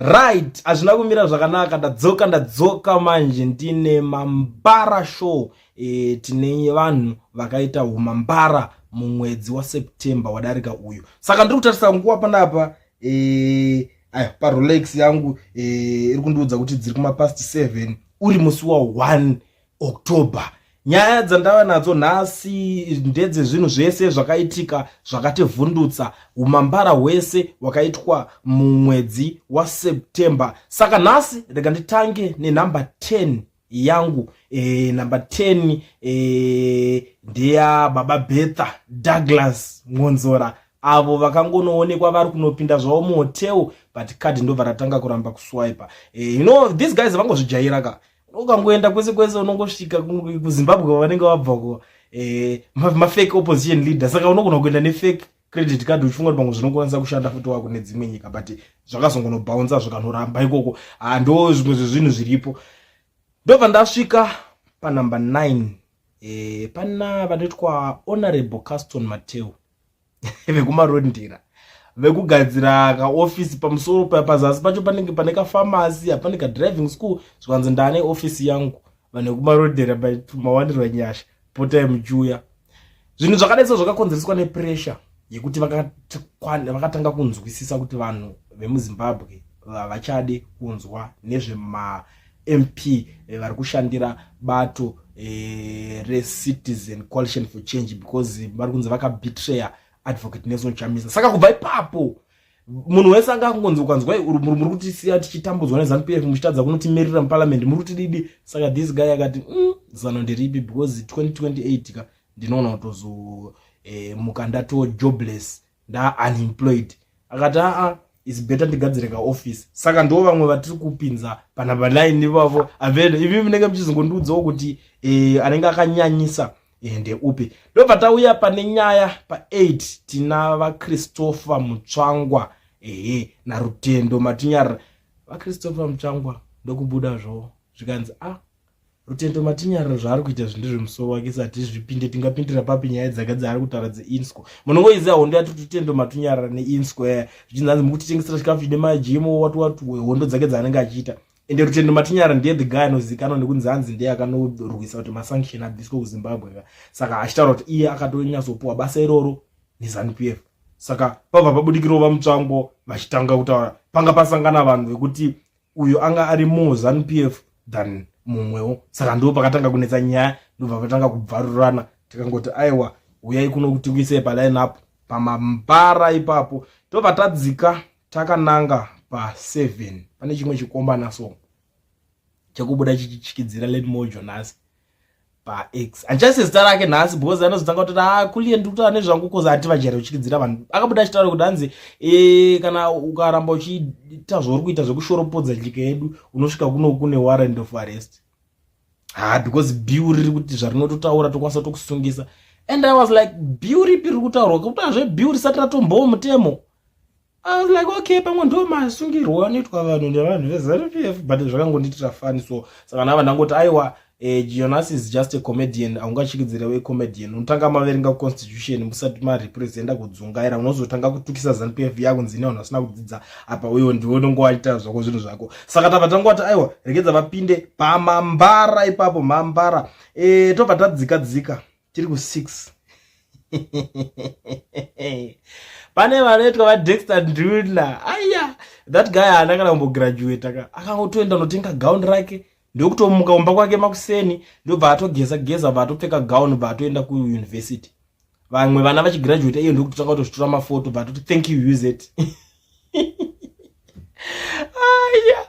right hazvina kumira zvakanaka ndadzoka ndadzoka manje ndine mambara show e, tine vanhu vakaita humambara mumwedzi waseptember wadarika uyu saka ndiri kutarisa nguva panapa e, aya parolex yangu e, iri kundiudza kuti dziri kumapast 7 uri musi wa 1 october nyaya dzandava nadzo nhasi ndedzezvinhu zvese zvakaitika zvakativhundutsa umambara hwese hwakaitwa mumwedzi waseptember saka nhasi rega nditange nenumber 10 yangu e, number 10 e, eh, ndeya baba betha douglas ngonzora avo vakangonoonekwa vari kunopinda zvavo muhotel but card ndobva ratanga kuramba kuswipa e, you know these guys vangozvijaira ka ukangoenda kwese kwese unongosvika kuzimbabwe kwavanenge wabva ko eh, mafake opposition leader saka unogona kuenda nefake credit card uchifunga kuti pamwe zvinokwanisa kushanda futi wako nedzimwe nyika but zvakazongonobhaunza zvikanoramba ikoko ah, ndo zvimwe zvezvinhu zviripo ndobva ndasvika panumber 9 eh, pana vanotwa honorable caston mateo vekumaroad ndira vekugadzira kaofisi pamusoro pazasi pacho panenge pane kafamasi hapane kadriving school zvikanzi ndane ofisi yangu vanhu vekumarodhera but mawandirwa nyasha potai muchiuya zvinhu zvakadai so zvakakonzereswa nepressure yekuti vakatanga kunzwisisa kuti vanhu vemuzimbabwe vavachade kunzwa nezvema MP eh, vari kushandira bato eh, reCitizen Coalition for Change because vari kunzi vakabetraya Advocate Nelson Chamisa. Saka kubva ipapo munhu wese anga akungonzi ukanzwa muri kuti siya tichitambudzwa nezanu pf muchitadza kunotimirira muparliament muri kuti didi saka this guy akati mm, zano ndiripi because 2028 ka ndinoona kutozomuka eh, ndatojobless nda unemployed akati aa is better ndigadzire ka office saka ndo vamwe vatiri kupinza pana balaini vavo avele ivi munenge muchizongondiudzawo kuti e, anenge akanyanyisa ende eh, upi ndobva tauya pane nyaya pa8 tina vachristopher mutsvangwa ehe narutendo matinyarira vachristopher mutsvangwa ndokubuda zvowo zvikanzi a ah, Rutendo matinyarira zvaari kuita zvinhu zvemusoro wake sati zvipinde tingapindira papi nyaya dzake dzaari kutaura dzeinsco munongoiziva hondo yati rutendo matunyarira neinsco yaya zvichinzi hanzi mukutitengesera chikafu chine majimo wati wati hondo dzake dzaanenge achiita ende rutendo matinyara ndiye the guy anozivikanwa nekunzi hanzi ndiye akanorwisa kuti masanction abviswe kuzimbabwe ka saka achitaura kuti iye akatonyatsopuwa basa iroro nezanup f saka pabva pabudikirova mutsvango vachitanga kutaura panga pasangana vanhu vekuti uyo anga ari more zanp f than mumwewo saka ndo pakatanga kunetsa nyaya ndobva patanga kubvarurana tikangoti aiwa uyai kuno kuti kuisei paline up pamambara ipapo tobva tadzika takananga paseven pane chimwe chikombana so chekubuda chichityidzira let mojo nhasi pax andichase zita rake nhasi because anozotanga kuti ah kulie ndiri kutaura nezvangu because hanti vajera uchiridzira vanhu akabuda achitaura kuti hanzi e, kana ukaramba uchiita zvauri kuita zvekushoropodza nyika yedu unosvika kuno kune warrant of arrest ha ah, because biu riri kuti zvarinototaura tokwanisa tokusungisa and i was like biu ripi riri kutaurwa kutaura zvebiu risati ratombowo mutemo I was like okay pamwe ndo masungirwo anoitwa vanhu nevanhu veZanu PF but zvakangondiitira fani so saka nava ndangoti aiwa eh, Jonas is just a comedian aungachikidzirewo a comedian unotanga maverenga constitution musati marepresenta kudzungaira unozotanga kutukisa Zanu PF yakunzi ine vanhu vasina kudzidza apa uyo ndiwe unongo waita zvako zvinhu zvako saka tava tangoti aiwa regedza vapinde pamambara ipapo mambara eh, tobva tadzika dzika tiri ku 6 pane vanoitwa vadexter ndula aya that guy haana kana kumbograduata ka akangotoenda anotenga gown rake ndokutomuka kumba kwake makuseni ndobva atogeza geza bva atopfeka gown bva atoenda kuuniversity vamwe vana vachigraduata iye ndokutotanga kutozvitora mafoto bva atoti thank you use it aya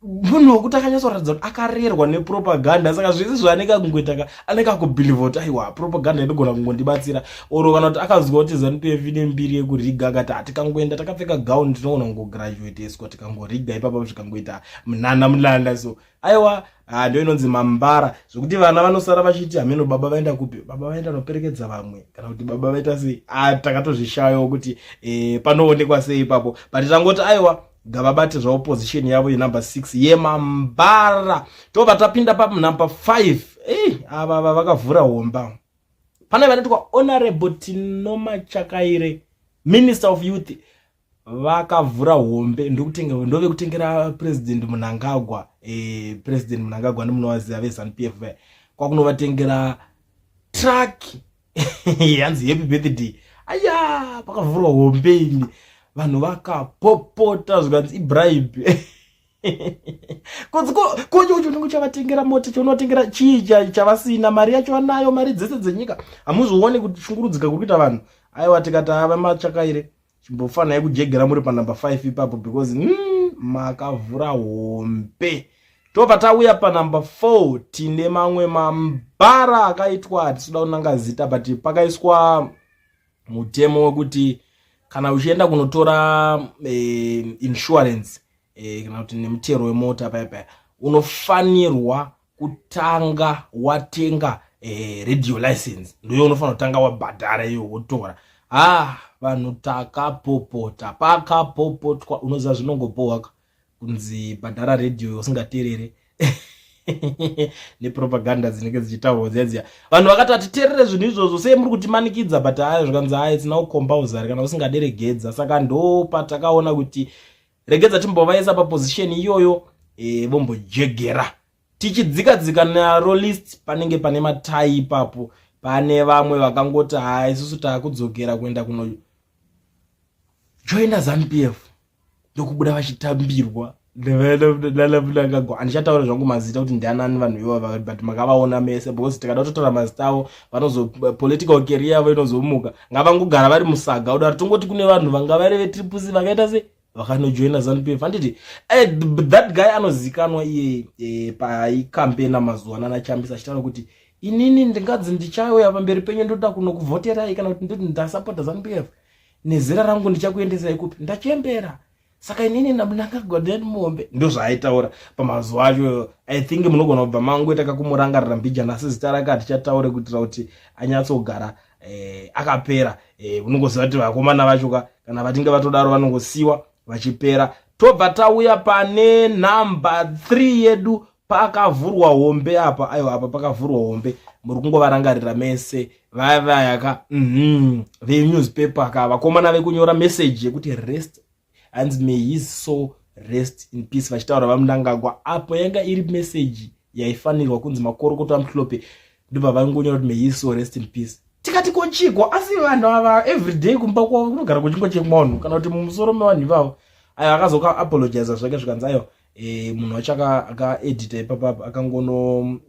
munhu wekuti akanyatsoratidza kuti akarerwa nepropaganda saka zvese zvaanenge akungoita ka anenge akubhilivha kuti aiwa propaganda inogona kungondibatsira oro kana kuti akaziva kuti zanup f ine mbiri yekuriga akati hatikangoenda takapfeka gown tinogona kungograduateswa tikangoriga ipapa zvikangoita munana mulanda so aiwa ah, ndo inonzi mambara zvekuti vana vanosara vachiti hameno baba vaenda kupi baba vaenda noperekedza vamwe kana kuti baba vaita sei ah, takatozvishayawo kuti eh, panoonekwa sei ipapo but tangoti aiwa ngavabate zvaopposition yavo yenumber 6 yemambara tobva tapinda panumber 5 ei ava va vakavhura homba pane vanoitwa honorable tinomachakaire minister of youth vakavhura hombe ndokutenga ndove kutengera president munangagwa eh, president munangagwa ndimunovaziva vezanup f vaya kwakunovatengera truck hanzi happy birthday aya pakavhurwa hombe ini vanhu vakapopota zvikanzi ibribe kocho ucho unenge uchavatengera mota chaunovatengera chii chavasina mari yacho vanayo mari dzese dzenyika hamuzvione kuti shungurudzika kuri kuita vanhu aiwa tikati ava machakaire Chimbofana yekujegera muri pa number 5 ipapo because mm, makavhura hombe. Tobva tauya pa number 4 tine mamwe mambara akaitwa atisuda kunanga zita but pakaiswa mutemo wekuti kana uchienda kunotora eh, insurance e, kana kuti nemutero wemota paya paya unofanirwa kutanga watenga e, radio license ndoyo unofanira kutanga wabhadhara iyo wotora ah vanhu takapopota pakapopotwa unoziva zvinongopohwaka kunzi bhadhara radio usingaterere nepropaganda dzinenge dzichitaurwa dziya dziya vanhu vakati hatiterere zvinhu izvozvo sei muri kutimanikidza but aya zvikanzi aya itsina kukombauzer kana usingaderegedza saka ndopatakaona kuti regedza timbovaisa paposition iyoyo e, vombojegera tichidzika dzika naro list panenge pane matai ipapo pane vamwe vakangoti haa isusu taakudzokera kuenda kuno joina zanupf ndokubuda vachitambirwa nevanamnangagwa handichataura zvangu mazita kuti ndianani vanhu ivava but makavaona mese because tikada kutotaura mazita avo vanozo political career yavo inozomuka ngavangogara vari musaga kudaro tongoti kune vanhu vanga vari vetripusi vakaita se vakanojoina zanupf handiti eh, that guy anozikanwa iye eh, paikampena mazuva ana anachambisa achitaura kuti inini ndingadzi ndichauya pamberi penyu ndoda kunokuvhoterai kana kuti ndoti ndasapota zanupf nezera rangu ndichakuendesai kupi ndachembera saka inini ndakagwa nemombe ndozvaaitaura pamazuva acho i think munogona kubva mangoita kakumurangarira mbijana asi zita rake hatichataure kuitira kuti anyatsogara eh, akapera eh, unongoziva kuti vakomana vacho ka kana vatinge vatodaro vanongosiwa vachipera tobva tauya pane number 3 yedu pakavhurwa hombe apa aiwa apa pakavhurwa hombe muri kungovarangarira mese vaya vaya ka mhm venewspaper ka vakomana vekunyora message yekuti rest hanzi may his soul rest in peace vachitaura vamundangagwa apo yanga iri message yaifanirwa kunzi makorokoto amuhlope ndobva vangonyora kuti may his soul rest in peace tikati kochiko asi vanhu ava everyday kumba kwavo kunogara kuchingo chemwanhu kana kuti mumusoro mevanhu ivavo ayo akazoka apologiza zvake zvikanzi ayo eh munhu wacho aka edita ipapa akangono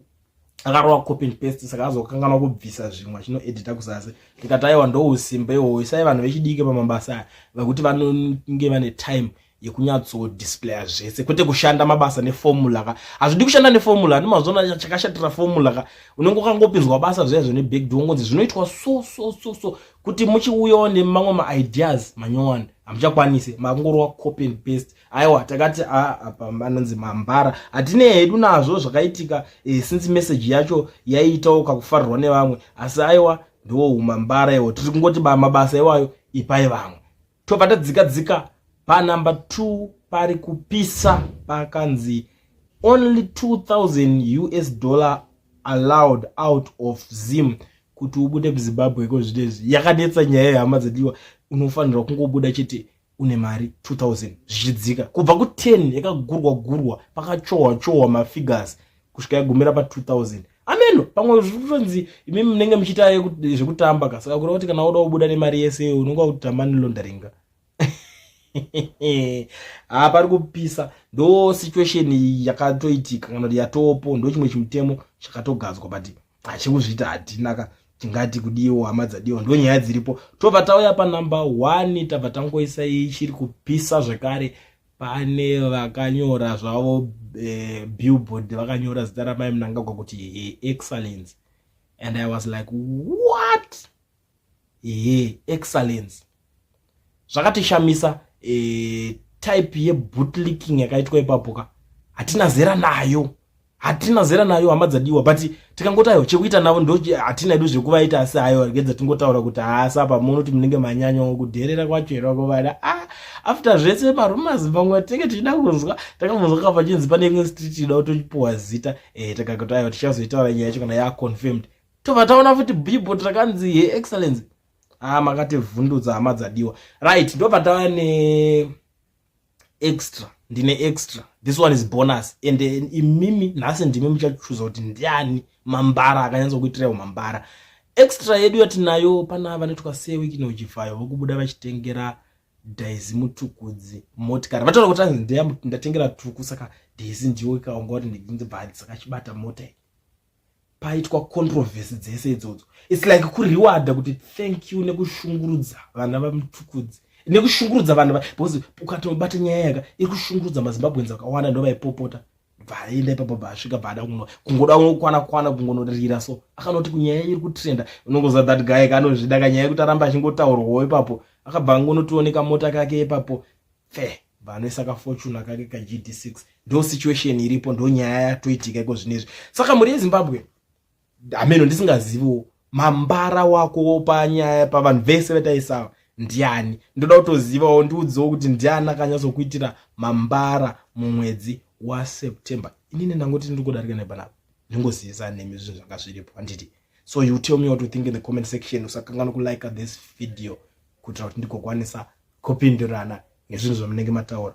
akarova copy and paste saka azokanganwa kubvisa zvimwe achino edita kuzasi ndikati aiwa ndousimba iwowo isai vanhu vechidike pamabasa aya vekuti vanonge vane time yekunyatso displaya zvese kwete kushanda mabasa neformula ka hazvidi kushanda neformula ani mazona chakashatira formula ka unenge ukangopinzwa basa zviyaizvo nebagd wongonzi zvinoitwa so so so so kuti muchiuyawo nemamwe maideas manyowani hamuchakwanise makungorova copy and paste aiwa takati a apa anonzi mambara hatine hedu nazvo zvakaitika e, since message yacho yaiitawo kakufarirwa nevamwe asi aiwa ndiwo umambara iwo tiri kungoti mabasa iwayo ipai vamwe tobva tadzika dzika panumber two pari kupisa pakanzi only 2000 us dollar allowed out of zim kuti ubude kuzimbabwe ko zvino izvi yakanetsa nyaya yehama dzediwa unofanirwa kungobuda chete une mari 2000 zvichidzika kubva ku10 yakagurwa gurwa pakachohwa chohwa mafigures kusvika yagumira pa2000 ameno pamwe zvitonzi imi munenge muchiita zvekutamba ka saka kureva kuti kana woda kubuda nemari yese unonga kutamba nelondaringa haa ah, pari kupisa ndo situation yakatoitika kana kuti yatopo ndo chimwe chimutemo chakatogadzwa but achikuzviita hatina ka tingati kudiwo hama dzadiwo ndo nyaya dziripo tobva tauya panumber one tabva tangoisa ichiri kupisa zvekare pane vakanyora zvavo eh, billboard vakanyora zita ramai munangagwa kuti excellence and i was like what ehe excellence zvakatishamisa e, type yebootlicking yakaitwa ipapo ka hatina zera nayo hatina zera nayo hama dzadiwa but tikangoti ayo chekuita navo ndo hatina edu zvekuvaita asi ayo arigedza tingotaura kuti haasi apa munoti munenge manyanya kudherera kwacho here wakovada a ah, after zvese marumas pamwe tinenge tichida kunzwa takangonzwa ka pachinzi pane imwe street ida kutochipuwa zita e, eh, takakoti ayo tichazoitaura nyaya yacho kana yaconfirmed tobva taona futi billboard rakanzi he excellence haa ah, makativhundudza hama dzadiwa right ndobva tava ne extra ndine extra this one is bonus and eh, imimi nhasi ndimi muchachuza kuti ndiani mambara akanyatsa kuitirawo mambara extra yedu yatinayo pana vanoitwa sewikinojivayo vokubuda vachitengera daizi mutukudzi motikari vataura kuti anzi ndatengera tuku saka daizi ndiwo ikaonga kuti ndibva hadzisakachibata mota paitwa controversy dzese idzodzo its like kurewarda kuti thank you nekushungurudza vana vamutukudzi nekushungurudza vanhu because ukatobata nyaya yaka iri kushungurudza mazimbabwenzi akawanda ndo vaipopota bvaenda ipapo bvaasvika bvaada kungoda kwana kwana kungonorira so akanoti kunyaya iri kutrenda unongoza that guy kanozvida kanyaya yekuti aramba achingotaurwawo ipapo akabva angonotioneka mota kake ipapo fair vanoisa kafortuna kake kagd6 ndo situation iripo ndo nyaya yatoitika iko zvino izvi saka mhuri yezimbabwe hameno ndisingaziviwo mambara wako panyaya pavanhu vese vataisawa ndiani ndoda kutozivawo ndiudzewo kuti ndiani akanyatsokuitira mambara mumwedzi waseptember inini ndangoti ndiri kudarika nepanapa ndingozivisa nemi zvinhu zvanga zviripo handiti so you tell me what you think in the comment section usakanganwa kulike this video kuitira kuti ndigokwanisa kupindurana nezvinhu zvamunenge mataura